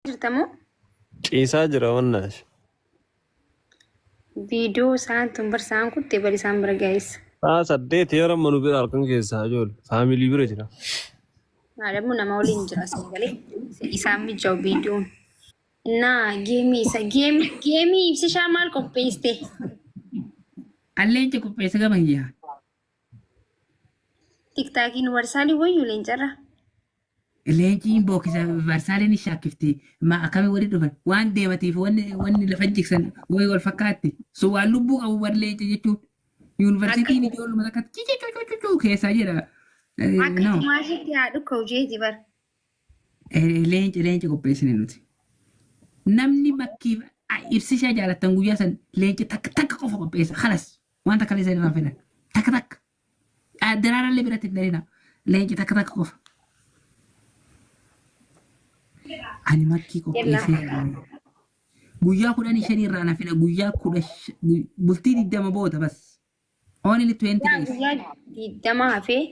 jirta moo? Ciisaa jira wannaash. Viidiyoo isaan tun barsaan kutte bal isaan bira gaa'is. Sa'a saddeet yeroo amma nu bira halkan keessaa ijoollee faamilii bira jira. Maadamu nama waliin jira asii galee isaan mijjaa'u viidiyoon. Naa geemii isa geemii geemii ibsishaa maal qopheessite? Alleen ce qopheessa gama kiyyaa. Tiktaakiin warsaalii wayyuu leencarra. Leenciin bookisa Varsaalii ni shaakkifti. Ma akkami wali dhufan? Waan deematiif wanni wanni lafa jigsan way wal fakkaatti. So waan lubbuu qabu bar leenca jechuun. Yuunivarsiitiin Akka- ijoolluma takkatti cicucucucucuu keessaa jedha. Eh, Akka no. tumaashitti haa dhukka'u jeeti bar. Eh, Leenca leenca qopheessine nuti. Namni makkiif ah, ibsishaa jaalattan guyyaa san leenca takka takka qofa qopheessa. Kalas waan takka illee san irraa hin fedhan. Takka takka. Daraarallee biratti hin darina. Leenci takka takka qofa. Ani makkii qopheessee yaadame. Guyyaa kudhanii shanii irraa na fida. Guyyaa kudha sh- gu- bultii digdama booda bas. Only 20 Yaa days. guyyaa digdama hafee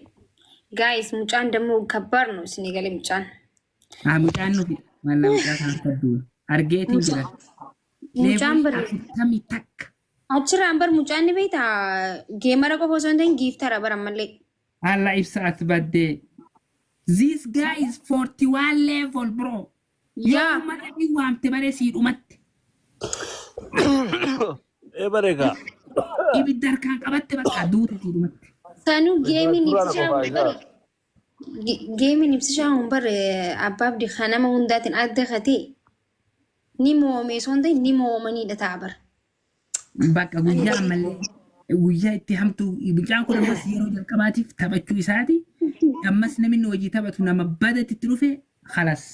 gaayis mucaan dammoo kabbarnu isin eegale mucaan. Haa mucaan nufi. Mallaa mucaa kana fadduun. Argeetiin jira. Mucaan Leeboo bari afurtamii takka. Achirraan bar mucaan ni beekta geemara qofa osoo hin ta'in giiftara bar ammallee. Alla ibsa as baddee. This guy is 41 level bro. Yoo Yaa. uummata rabbii waamte baree sii dhumatte. Ee bareegaa. Ibidda harkaan qabatte bakka duute sii dhumatte. Sanuu geemiin Suuraa na ibsichaa qofaa godhe isaa. bari. Geemiin ibsishaa hin barre abbaa abdi kan nama hundaatiin adda katee ni mo'amee osoo hin ta'in ni mo'amaniidha ta'a bara. Bakka guyyaa ammallee guyyaa itti hamtuu mucaan kun ammas yeroo jalqabaatiif taphachuu isaati. Ammas namni hojii taphatu nama badatti itti dhufe halas.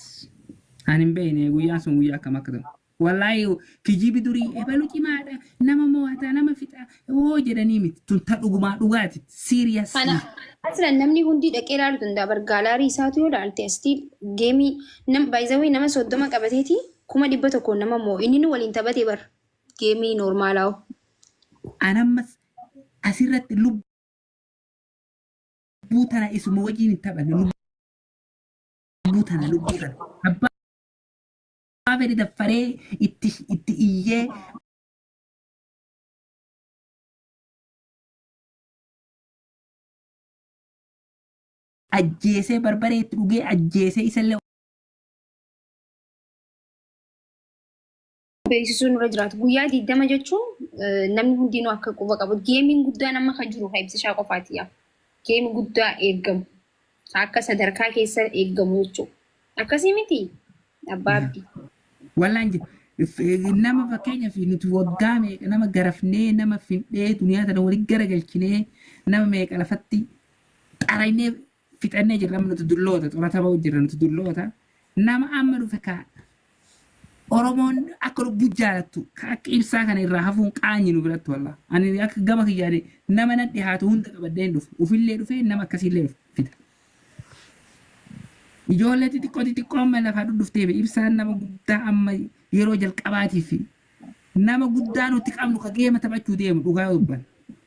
Ani hin beekne guyyaan sun guyyaa akkam akka ta'u. Wly kijibi durii ebalu cimaadha nama mo'ata nama fixa hoo jedhanii miti tun ta dhugumaa dhugaati seriously. Aslan namni hundii dhaqee laalu danda'a bar gaalaarii isaatu yoo laalte still geemii nam by the way nama 30 qabateeti 100,000 nama mo'u inninu waliin taphate bar geemii normaalaa hoo. An ammas asirratti lubbuu tana isuma wajjiin hin taphanne lubbuu tana lubbuu tana abbaa Abeli daffaree itti itti iyyee. ajjeesee barbaree itti dhugee ajjeesee isallee beeksisuun irra jiraatu. Guyyaa 20 jechuun eh, namni hundinuu akka quba qabu. Geemiin guddaan amma kan jiru kan ibsishaa qofaati yaa. Geemii guddaa eegamu. Akka sadarkaa keessa eeggamu jechuu. Akkasii miti abbaa abdii. Wallaan jira. F- Nama fakkeenya fi nuti waggaa meeqa nama garafnee nama findhee duniyaa tana wali garagalchinee nama meeqa lafatti xaraynee fixannee jirra amma nuti dulloota xurata ba'u jirra nuti dulloota nama amma dhufe ka Oromoon akka lubbuu jaalattu kan akka ibsaa kana irraa hafuun qaanyi nu biratti wallah. Ani akka gama kiyyaani nama na dhihaatu hunda qabadhee hin dhufu. Ufillee dhufee nama akkasiillee dhufe fida. Ijoollee xixiqqoo xixiqqoo amma lafaa dhudhuftee fi ibsaan nama guddaa amma yeroo jalqabaatiif fi nama guddaa nuti qabnu ka geema taphachuu deemu dhugaa dubban.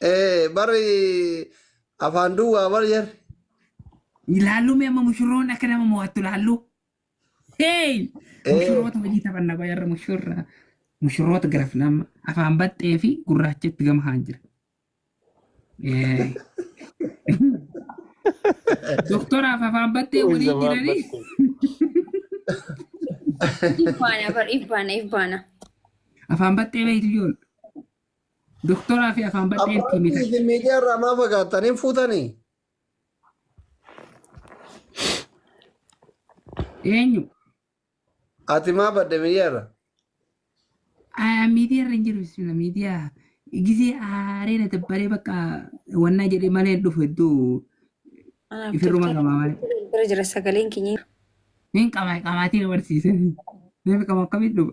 Eh, barri afaan duwwaa bar jar. Ilaallu mee amma mushurroon akka nama mo'attu ilaallu. Hey! Eh. Mushurroota hojii taphanna qoy har'a mushurra. Mushurroota garafna amma afaan baxxee fi gurraacha itti gama haan jira. Eh. Doktoraaf afaan baxxee walii jiranii. Ifbaana bar ifbaana ifbaana. Afaan baxxee beektu ijoollu. Doktoraa fi afaan badhee itti Abbaan himitan. isin miidiyaa irraa maa fagaattan hin fuutanii? Eenyu? Ati maa badde miidiyaa irra? Ah, Miidiyaa irra hin jiru bismillah miidiyaa. Gizee aaree na dabbaree bakka wannaa jedhee malee hin dhufu hedduu Anaaf ifirruma tiktok qabaa malee. bira jira sagaleen keenya. Hin qabaa qabaatiin barsiise. Namni qabu akkamitti dhufa?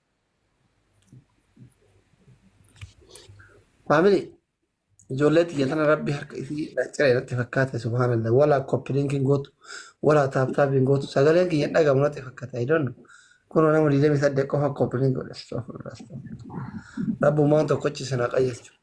Faamili ijoollee tiyya tana rabbi harka isii ciree irratti fakkaate subhaanallah walaa koppilinkiin gootu walaa taaptaapiin gootu sagaleen kiyya hin dhagahamu natti fakkaata I don't know. Kun nama 28 qofa koppilink godhe astagfirullah astagfirullah. Rabbumaan tokkochi sana qajeelchu.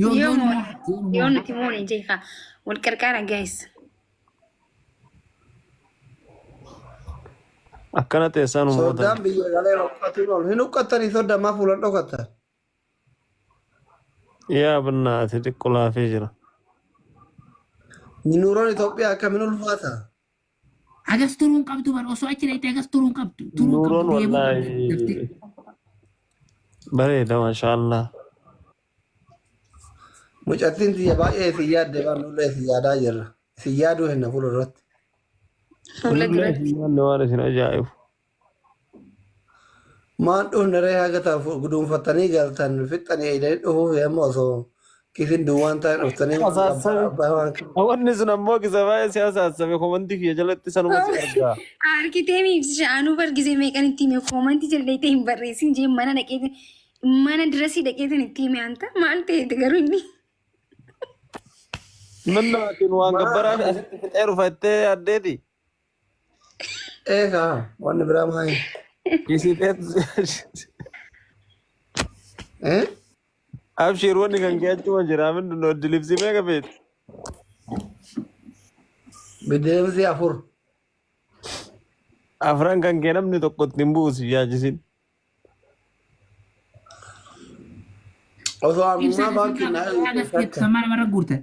Yoo Yoo yoon moone- mo'ate yoo mo'ate. nuti moone jeeqa wal qarqaara guys. Akkana teessaan Soddaan uummata. biyya galee huqqatiin ol. Hin huqqattanii soddaa maa fuulan dhokattan? Yaa bannaa ati xiqqoo laafee jira. Nuuroon Itoophiyaa akkamiin ulfaata? Agas turuu hin qabdu bar osoo achi dhaqxee agas turuu hin qabdu. Turuu hin Nuuroon qabdu deemuu qabda wallaahi daftee. bareeda maashaallah. Mucattiin tiyya baay'ee isin yaadde waan nullee isin yaadaa jirra. Isin yaaduu hinna fuula irratti. Fuula Nullee duratti. isin yaadne waan isin ajaa'ibu. Maan dhufneree haga taaf guduunfattanii galtan fixxanii eeydanii dhufuuf yamma osoo kiisiin duwwaan taa'e dhuftanii waan abbaa Asaassabe. abbaa waan kibba. Hawanni sun ammoo kisa baay'ee si asaassabe komantii kiyya jalatti sanuma si argaa. Argitee miibsisha anuu bargise meeqan itti hime koomantii jala dhayxee hin barreessin jee mana dhaqeeti mana dirasii dhaqeetin itti hime anta maal ta'eeti garuu inni Nanna atin waan Maa gabbaraa fi asitti fixee dhufattee addeeti. Eega wanni biraa maali? Isii Eh? Abshiir wanni kan kee achuma jira min noddi libsii meeqa feetu? Bideemsi afur. Afran kan kee namni tokko ittiin buusi yaachisin. Osoo ammaa baankiin naa Ibsa mara mara guurtan.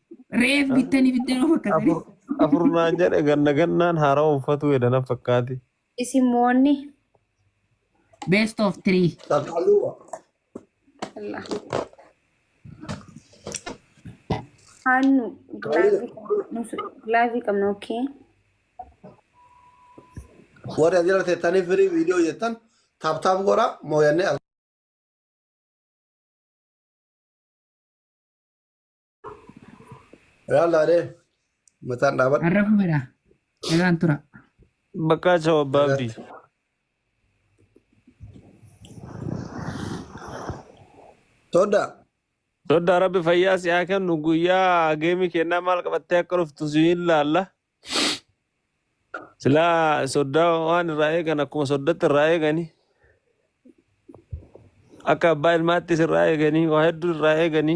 Reef bittan ibidda noo fakkatanii. Afur afur naan jedhe ganna gannaan haarawa uffatuu edana fakkaati. Isin moonni. Best of three. Takkaluwa. Allah. Hannu gilaazii qabna. Nusu gilaazii qabna okay. Warri as jala teettanii firii viidiyoo jettan taaptaap godha mooyannee as Yaalaa dee. Mataan dhaabadha. Har'a fumeera. Egaan tura. Bakka chao abbaa abdii. Todda. Dodda rabbi fayyaa si haa kennu guyyaa geemi kennaa maal qabattee akka dhuftu si hin laalla. Silaa soddaa waan irraa eegan akkuma soddatti irraa eegani. Akka abbaa ilmaattis irraa eegani waa hedduu irraa eegani.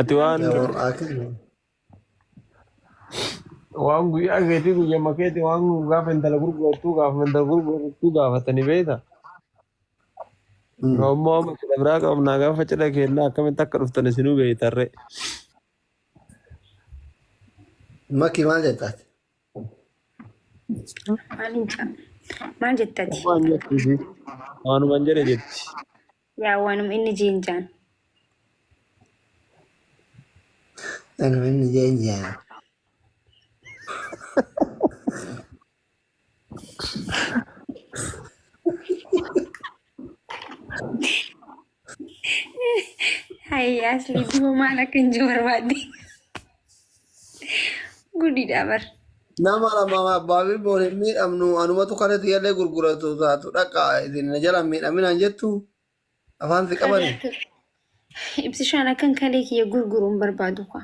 Ati waan Yoo akkas waan guyyaa keetii guyyaa makeetii waan gaafa intala gurgurattuu gaafa intala gurgurattuu gaafatanii beekta. Yoo ammoo amma cidha biraa qabnaa gaafa cidha keennaa akkamitti akka dhuftan isinuu beektarree. makii maal jettaati? Maaliin caa? Maal jette ati? Waan jettu ishii. Waanuman jedhe jetti. Yaa waanuma inni jeen jaan. Anuma inni jeen jaa. Hayi asli duba maal akka hin jiru barbaadde. Gudidha bar. Nama lama abbaa fi boon hin miidhamnu anumatu kana tiyallee gurguratu taatu dhaqa isin na jala hin miidhaminaan jettu afaan si qabani. Ibsishaan akkan kalee kiyya gurguruun barbaadu kwa.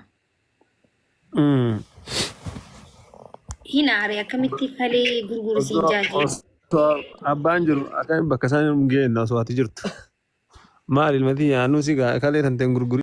Hin aare akkamitti falee gurguru siin Osoo jaajee. osoo abbaan jiru akka bakka isaan hin geenye osoo ati jirtu. Maal ilmati yaanuu si gaa kalee tanteen gurguri.